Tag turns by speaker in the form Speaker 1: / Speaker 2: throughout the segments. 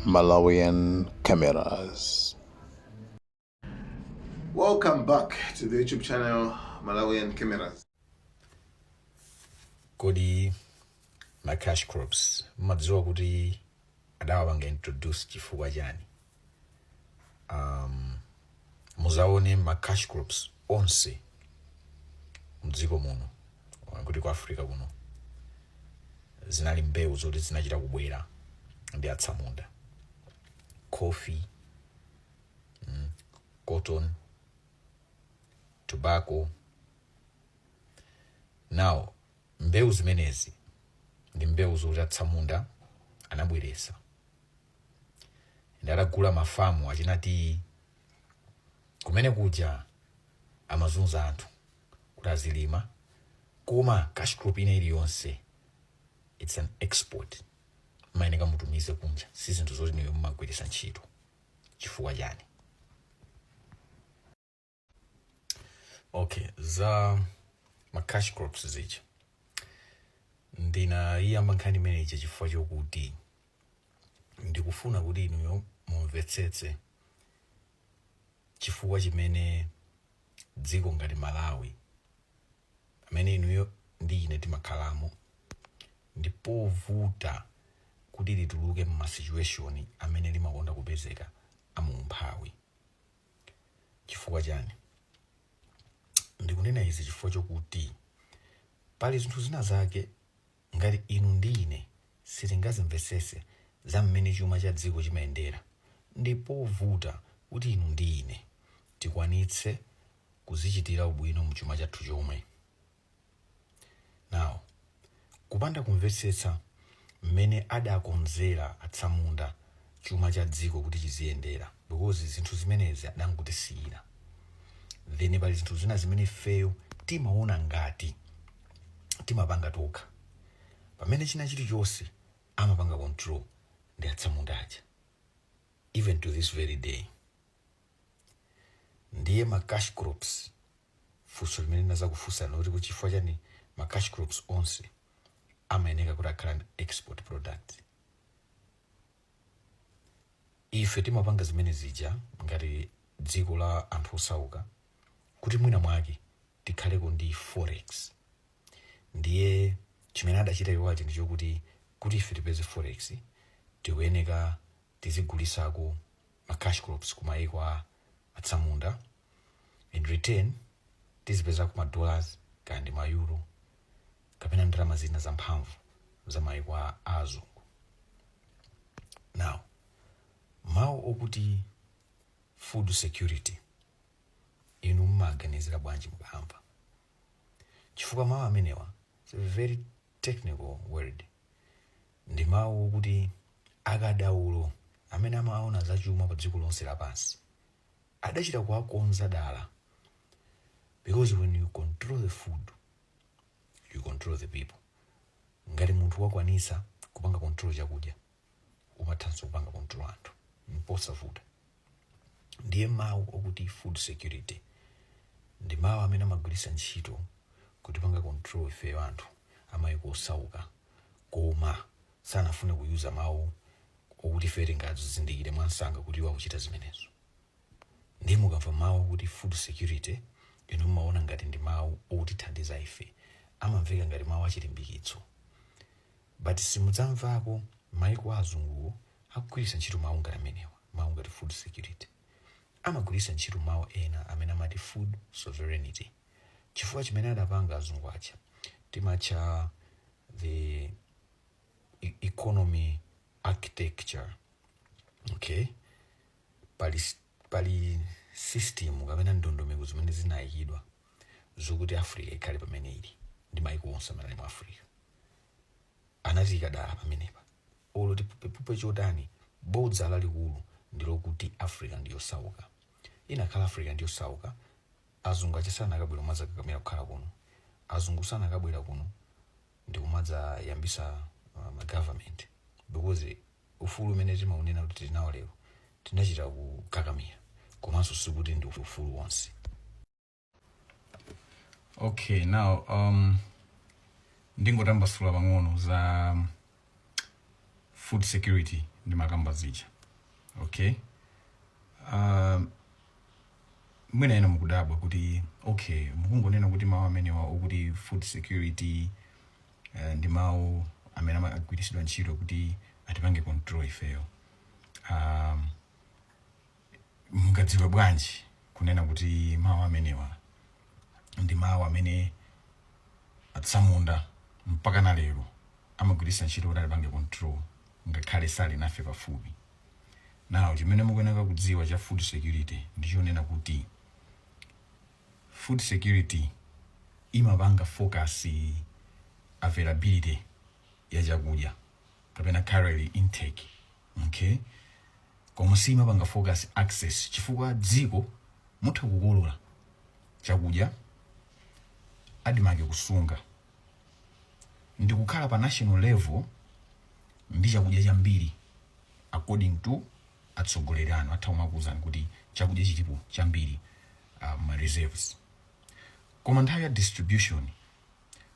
Speaker 1: Malawian cameras. Welcome back to the YouTube channel Malawian Cameras.
Speaker 2: Kodi ma cash crops mumadziwa kuti adawapanga introduce chifukwa chani? Um, muzaone ma cash crops onse mdziko muno kapena ku africa kuno zinali mbewu zoti zinachita kubwera ndi atsamunda coffee mm, cotton tobacco now mbewu zimenezi ndi mbewu zoti atsamunda anabweresa and atagula mafamu achina tiyi kumene kuja amazunza anthu kuti azilima koma cash crop ina iliyonse its an export mumayeneka mutumize kunja si zinthu zoti iwe mumagwiritsa ntchito chifukwa chani okay za ma cash crops zija ndinayiyamba nkhani imene ija chifukwa chokuti ndikufuna kuti inuyo mumvetsetse chifukwa chimene dziko ngati malawi pamene inuyo ndi ine timakhalamo ndi povuta kuti lituluke mmasituation amene limakonda kupezeka aumphawi chifukwa chani ndikunena izi chifukwa chokuti pali zinthu zina zake ngati inu ndi ine sitingazimvesese za mmene chuma cha dziko chimayendera ndi povuta kuti inu ndi ine tikwanitse kudzichitira ubwino mchuma chathu chomwe Now, kupanda kumvetsetsa mmene adakonzera atsamunda chuma cha dziko kuti chiziyendera because zinthu zimenezi adangotisiyira then pali zinthu zina zimene ifeyo timaona ngati timapanga tokha pamene china chilichonse amapanga control ndi atsamunda aja even to this very day ndiye ma cash crops funso limene ndinazakufunsani loti kuti chifukwa chani ma cash crops onse amayeneka kuti akhale ndi export product ife timapanga zimene zija ngati dziko la anthu osauka kuti mwina mwake tikhaleko ndi forex ndiye chimene adachita iwo aja ndichokuti kuti ife tipeze forex tikuyeneka tizigulisako ma cash crops ku maiko a atsamunda in return tizipezako ma dollars kaya ndi ma euro kapena ndalama zina zamphamvu za maiko a a azungu now mawu okuti food security inu mumaganizira bwanji mukamva chifukwa mawu amenewa is a very technical word Ndi mawu okuti akadaulo amene amaona za chuma pa dziko lonse lapansi adachita kuwakonza dala because when you control the food you control the people. Ngati munthu wakwanisa kupanga control chakudya umathanso kupanga control anthu mposavuta. ndiye mawu okuti food security ndi mawu amene amagwiritsa ntchito kutipanga control ifeyo anthu amayiko osauka koma sanafune kuyuza mawu okuti ife tingazizindikire mwansanga kuti iwo akuchita zimenezo ndiye mukamva mawu okuti food security inu mumaona ngati ndi mawu otithandiza ife amamveka ngati mawu achilimbikitso But simudzamvako maiko a azunguwo akugwiritsa ntchito mau ngati amenewa. Mau ngati food security. Amagwiritsa ntchito mau ena amene amati food sovereignty. Chifukwa chimene adapanga azungu aja timatcha the economy architecture. Okay? Pali system kapena ndondomeko zimene zinaikidwa. zokuti africa ikhale pamene ili ndi maiko onse amene ali mu africa anatiika dala pamenepa olo tiphuphe chotani bodza lalikulu ndi lokuti africa ndi yosauka ikanakhala africa ndi yosauka azungu aja sanakabwera kumadzakakamira kukhala kuno azungu sanakabwera kuno ndikumadza yambisa uh, ma government because Ufulu umene timaunena kuti tili nawo lero tinachita kukakamira komanso sikuti ndi ufulu wonse. Okay, now um, ndingotambasula pang'ono za food security ndimakamba zija okay um, mwina ena mukudabwa kuti okay mukungonena kuti mawu amenewa okuti food security uh, ndi mawu amene amagwiritsidwa ntchito kuti atipange control ifeyo um, mungadziwe bwanji kunena kuti mawu amenewa ndi mawu amene atsamunda mpaka na lero amagwiritsa ntchito kuti atipange control ngakhale sali nafe pafupi now chimene mukuyenera kudziwa cha food security ndichonena kuti food security imapanga focus availability ya chakudya kapena calorie intake okay koma siimapanga focus access chifukwa dziko mutha kukolola chakudya admarc kusunga ndikukhala pa national level ndi chakudya chambiri according to atsogoleri anu atha kumakuuzani kuti chakudya chilipo chambiri uh, ma reserves koma nthawi ya distribution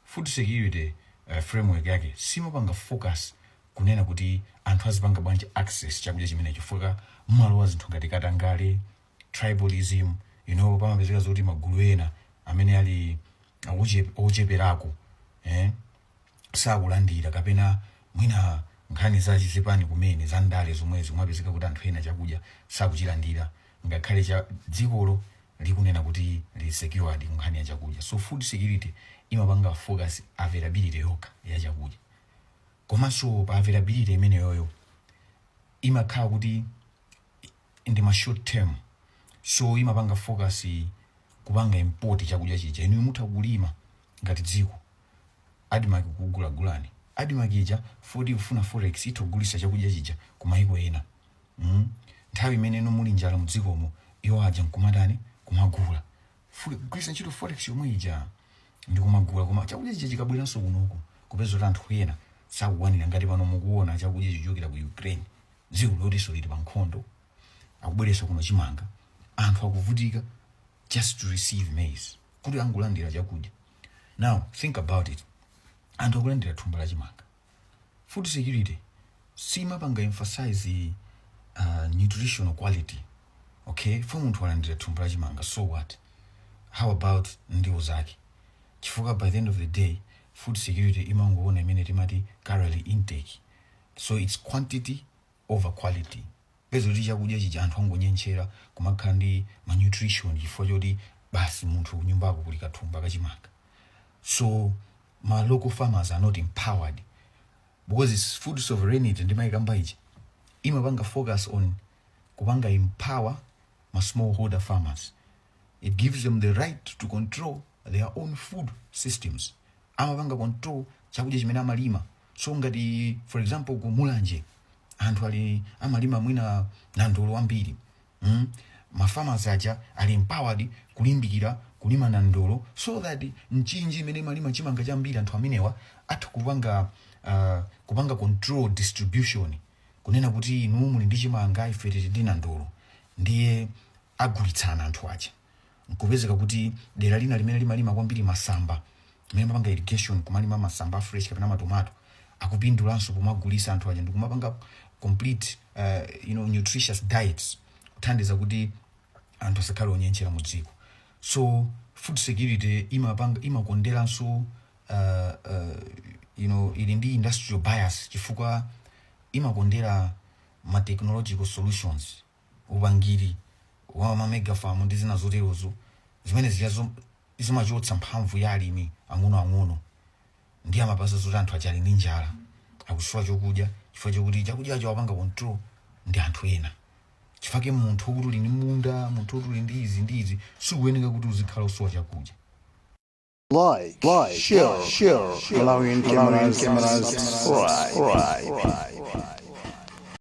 Speaker 2: food security uh, framework yake siimapanga focus kunena kuti anthu azipanga bwanji access chakudya chimenecho chifukwa mmalowa zinthu ngati katangale tribalism you know pamapezeka zoti magulu ena amene ali oche- ocheperako eh? sakulandira kapena mwina nkhani zachizipani kumene za ndale zomwezi kumapezeka kuti anthu ena chakudya sakuchilandira ngakhale cha dzikolo likunena kuti lili secured ku nkhani ya chakudya so food security imapanga focus availability yokha ya chakudya komanso pa availability imeneyoyo imakhala kuti ndi ma short term so imapanga focus kupanga import chakudya chija inuyo mutha kulima ngati dziko admarc kugulagulani admarc ija foti ikufuna forex itha kugulisa chakudya chija ku maiko ena mm? nthawi imene inu muli njala mudzikomo iwo aja nkumatani kumagula fu- kugwiritsa ntchito forex yomwe ija ndikumagula koma chakudya chija chikabweranso kunoku kupeza kuti anthu ena sakukwanira ngati pano mukuona chakudya chichokera ku ukraine dziko lotinso lili pa nkhondo akubweretsa kuno chimanga anthu akuvutika just to receive maize kuti angolandira chakudya now think about it anthu akulandira thumba la chimanga food security siimapanga emphasize uh, nutritional quality okay fo munthu walandira thumba la chimanga so what how about ndiwo zake chifukwa by the end of the day food security imangoona imene timati calorie intake so it's quantity over quality peza kuti chakudya chija anthu angonyentchera kumakhala ndi malnutrition chifukwa choti basi munthu kunyumbako kuli kathumba ka chimanga so ma local farmers are not empowered because it's food sovereignty ndimayikamba ija imapanga focus on kupanga empower ma smallholder farmers it gives them the right to control their own food systems amapanga control chakudya chimene amalima so ngati for example ku mulanje anthu ali amalima mwina nandolo wambiri mm? ma farmers aja ali empowered kulimbikira kulima nandolo so that mchinji imene imalima chimanga chambiri anthu amenewa atha kupanga uh, kupanga control distribution kunena kuti inu muli ndi chimanga ife tili ndi nandolo ndiye agulitsana anthu aja nkupezeka kuti dera lina limene limalima kwambiri masamba amene amapanga irrigation kumalima masamba a fresh kapena matomato akupindulanso pomawagulisa anthu aja ndikumapanga complete uh, you know, nutritious diets kuthandiza kuti anthu asakhale onyentchera mu dziko so food security imakonderanso uh, uh, you know, ili ndi industrial bias chifukwa imakondera ma technological solutions upangiri wa ma mega farm ndi zina zoterozo zimene zijazo zimachotsa mphamvu ya alimi ang'onoang'ono ndiye amapeza zoti anthu aja ali ndi njala akusowa chokudya chifukwa chokuti chakudyacho apanga control ndi anthu ena chifake munthu wokuti uli ndi munda munthu wokuti uli ndi izi ndi izi sikuyeneka kuti uzikhala osowa
Speaker 3: chakudya Like, like, share, share, Malawian Cameras, Malawian Cameras, Cameras, subscribe. subscribe.